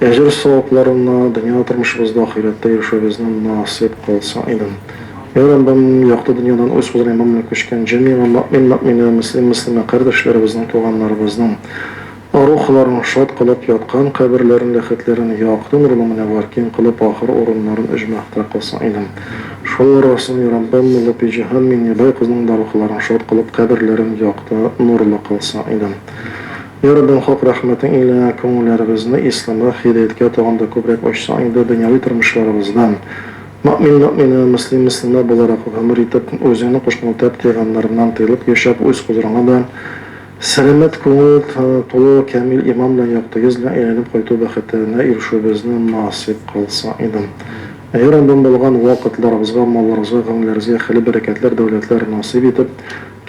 Әҗер-савапларына дөнья тормышыбызда, ахирәттә ирешүебезне насыйп кылсын идем. Йә Раббым, якты дөньядан үз хозурыңа мәмнүн күчкән җәмигә мөэмин-мөэминә, мөслим-мөслимә кардәшләребезнең, туганнарыбызның арухыларын шат кылып, яткан каберләрен, ләхетләрен якты нурлы мөнәввәр, киң кылып, ахыр урыннарын өҗмәхтә кылсын идем. Шул арасына, йә Раббым, Муллапиҗиһан Миңнебай кызның да рухыларын шат кылып, каберләрен якты нурлы кылсын идем. Йа Раббым хак рәхмәтең илә күңелләребезне исламга, һидаяткә тагын да күбрәк ачсаң инде дөньяви тормышларыбызда. Мөэмин мөэминә, мөслим мөслимә буларак гомер итеп, үзеңнең кушкан үтәп тыйганнарыңнан тыелып яшәп, үз хозурыңа да сәламәт күңел, тулы камил иман белән якты йөз белән әйләнеп кайту бәхетенә ирешүебезне насыйп кылсаң иде. Йа Раббым булган ва кытларыбызга, малларыбызга, гомелләребезгә хәйле бәрәкәтләр, дәүләтләр насыйп итеп,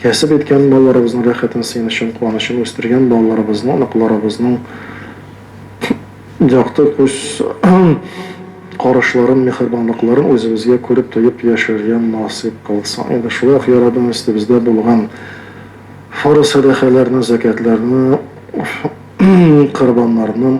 Кәсеп иткән балаларыбызның рәхәтен, сөенечен, куанычын, үстергән балаларыбызны, оныкларыбызның якты күз карашларын, миһербанлыкларын үзебезгә күреп, тоеп яшәргә насыйп кылсын иде. Шулай ук, я Раббым, өстебездә булган фарыз сәдакаларны, зәкятларны, корбаннарны,